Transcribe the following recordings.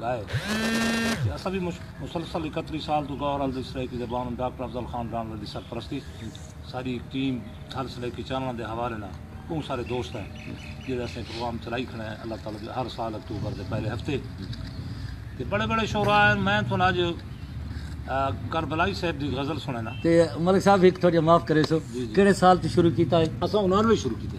گائے تے اساں وی مسلسل اکتری سال توں غور الدی سرائیکی دے بانو ڈاکٹر افضل خان رانڑوے دی سرپرستی ساری ہک ٹیم تھل سرائیکی چانڑاں دے حوالے نال بہوں سارے دوست ہیں جیڑھے اساں پروگرام چلائی کھڑے ہیں اللہ تعالی دی ہر سال اکتوبر دے پہلے ہفتے تے بڑے بڑے شعراء ہیں میں تھن اج کربلائی صاحب دی غزل سنینا تے ملک صاحب ایک تھوڑی معاف کرے سو جی جی کیڑے سال تو شروع کیتا ہے اساں انہاں نے شروع کیتے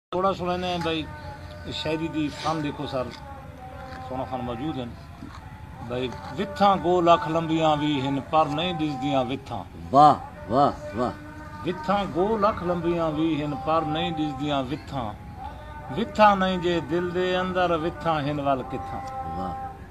تھوڑا سنڑیندے ہیں بھائی شاعری دی فن دیکھو سر سونا فن موجود ہیں بھائی وتھاں گو لکھ لمبیاں وی ہن پر نہیں ڈسدیاں وتھاں واہ واہ واہ وتھاں گو لکھ لمبیاں وی ہن پر نہیں ڈسدیاں وتھاں وتھاں نہیں جے دل دے اندر وتھاں ہن ول کتھاں واہ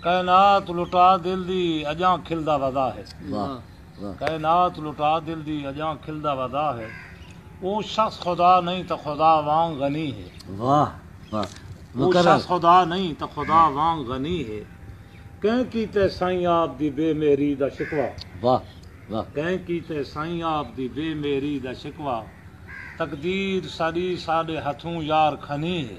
کائنات لٹا دل دی اجاں کھلدا ودا ہے کائنات لٹا دل دی اجاں کھلدا ودا ہے او شخص خدا نہیں تاں خدا وانگ غنی ہے واہ واہ او شخص خدا نہیں تاں خدا وانگ غنی ہے کہیں کیتے سائیں آپ دی بے مہری دا شکوا واہ واہ کہیں کیتے سائیں آپ دی بے مہری دا شکوا تقدیر ساڈی ساڈے ہتھوں یار کھنی ہے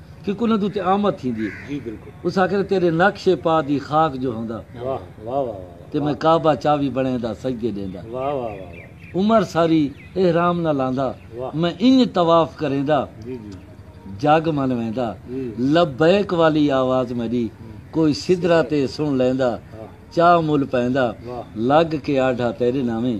کیونکہ انہاں دے اتے آمد تھیندی ہے۔ اس آکھیا تیڈے نقش پا دی خاک جو ہوندا تے میں کعبہ چاوی بنڑیندا سجدے ڈیندا۔ عمر ساری احرام نہ لاندا میں انج طواف کریندا جگ من ویندا لبیک والی آواز میڈی کوئی سدرہ تے سن لیندا چا مل پیندا لگ کے آڈھا تیڈے ناویں۔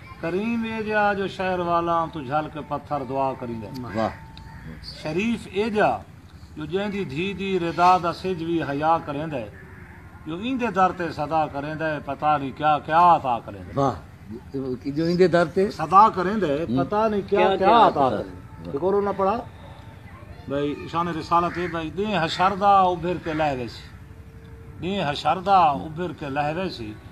کریم ایجا جو شہر والاں توں جھل کے پتھر دعا کریندے۔ شریف ایجا جو جیندی دھی دی ردا دا سجھ وی حیا کریندے۔ جو ایندے در تے صدا کریندے پتہ نی کیا کیا عطا کریندے۔ جو ایندے در تے صدا کریندے پتہ نی کیا کیا عطا کریندے۔ ایک اور انہاں پڑھا بھئی شان رسالت ہے بھئی دین حشر دا ابھر کے لہوے سی۔ دین حشر دا ابھر کے لہوے سی۔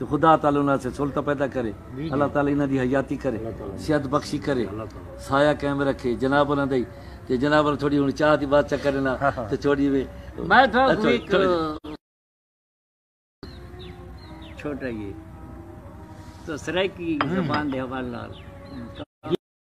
جو خدا تعالی انہاں آسے سہولتاں پیدا کرے، اللہ تعالی انہاں دی حیاتی کرے، صحت بخشی کرے، سایہ قائم رکھے، جناب انہاں دائی تے جناب انہاں تھوڑی ہن چاہ دی بات چا کرن آں تے تھوڑی وے میں تھا کو ایک چھوٹا یہ تو سرائیکی زبان دے حوالے نال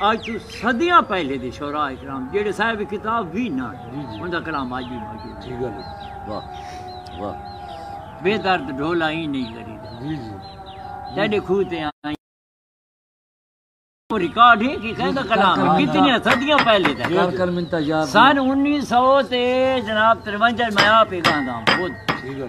آج توں صدیاں پہلے دے شعراء کرام جیڑھے صاحب کتاب وی نہ جی جی اندا کلام آج وی موجود ہے ٹھیک ہے واہ واہ بے درد ڈھولا ہی نہیں کری جی جی تیڈے کھو تے آئی ریکارڈ ہے کہ کہیں دا کلام ہے کتنی صدیاں پہلے دا کر کر منتا یاد سن 1900 تے جناب 53 میں آپ ہی گانداں خود ٹھیک ہے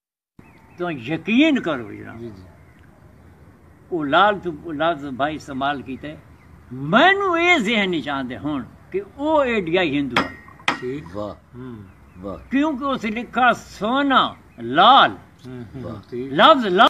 توں یقین کر وجنا جی جی او لال تو لفظ بھائی استعمال کیتے مینوں اے ذہن وچ آندے ہن کہ او ایڈیا ہندو ٹھیک واہ واہ کیونکہ اس لکھا سونا لال لفظ لال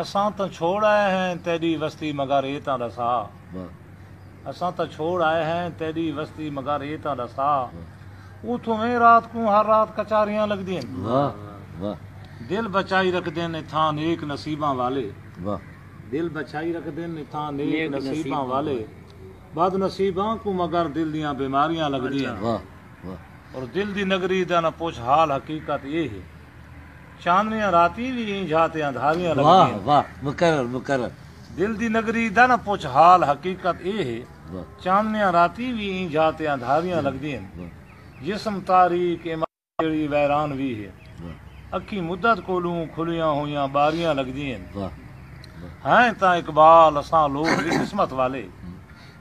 اساں تاں چھوڑ آئے ہیں تیݙی وستی مگر اے تاں ݙسا اساں تاں چھوڑ آئے ہیں تیݙی وستی مگر اے تاں ݙسا اتھوں ویں رات کوں ہر رات کچاریاں لڳدین دل بچائی رکھدن اتھاں نیک نصیباں والے دل بچائی رکھدن اتھاں نیک نصیباں والے بد نصیباں کوں مگر دل دیاں بیماریاں لڳدین اور دل دی نگری دا نہ پچھ حال حقیقت اے ہے۔ چاندنیاں راتیں وی ایں جھا تے اندھاریاں لگدین۔ واہ واہ مکرر مکرر۔ دل دی نگری دا نہ پچھ حال حقیقت اے ہے۔ چاندنیاں راتیں وی ایں جھا تے اندھاریاں لگدین۔ جسم تاریک اے ماں جیڑھی ویران وی ہے۔ اکھیں مدت کولوں کھلیاں ہوئیاں ٻاریاں لگدین۔ ہیں تاں اقبال اساں لوک وی قسمت والے۔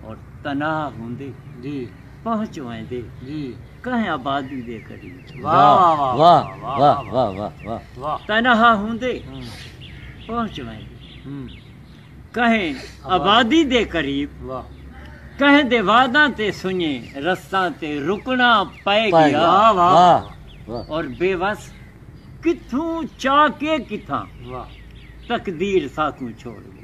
اور تنہا ہوندے جی پہنچ ویندے جی کہیں آبادی دے قریب واہ واہ واہ تنہا ہوندے پہنچ ویندے کہیں آبادی دے قریب کہیں دے وعداں تے سنجے رستاں تے رکنا پائے گیا اور بے وس کتھوں چاہ کے کتھاں تقدیر ساکوں چھوڑ گیا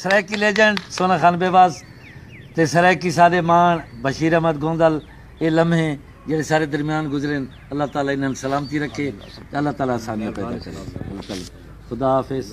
سرائیکی لیجنڈ سونا خان بیواس تے سرائیکی سادے ماݨ بشیر احمد گوندل اے لمحے جیڑھے سارے درمیان گزرین اللہ تعالی انہاں سلامتی رکھے اللہ تعالی آسانیاں پیدا کرے خدا حافظ